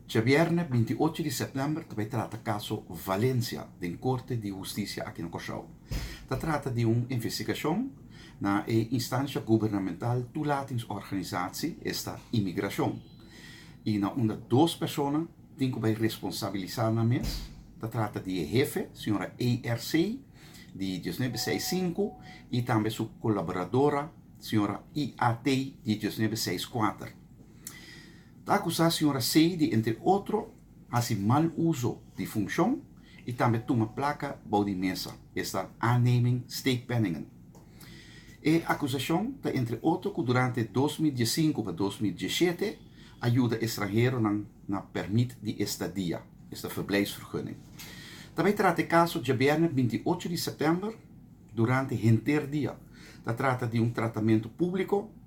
Djabièrnè binti ocho di sèptèmber ta bai trata kaso Valencia den Korte di Hustisia aki na Kòrsou. Ta trata di un investigashon na e instansha gubernamental tulatings-organisatsi esta Imigrashon i na unda dos persona tin ku bai responsabilisá nan mes. Ta trata di e hefe, señora ARC, di dieznuebe seis sinku, i tambe su kolaboradora, señora IAT, di dieznuebe seis kuater. Ta akusá señora Sey di entre otro hasi mal uso di funkshon i tambe tuma plaka bou di mesa, esta aanneming steekpenningen. E akusashon ta entre otro ku durante dos mil diesinku pa dos mil dieschete a yuda estranheronan na permit di estadia, esta verblijfsvergunning. Ta bai trata e kaso djabierna binti ocho di sèptèmber durante henterdia, ta trata di un tratamentu públiko.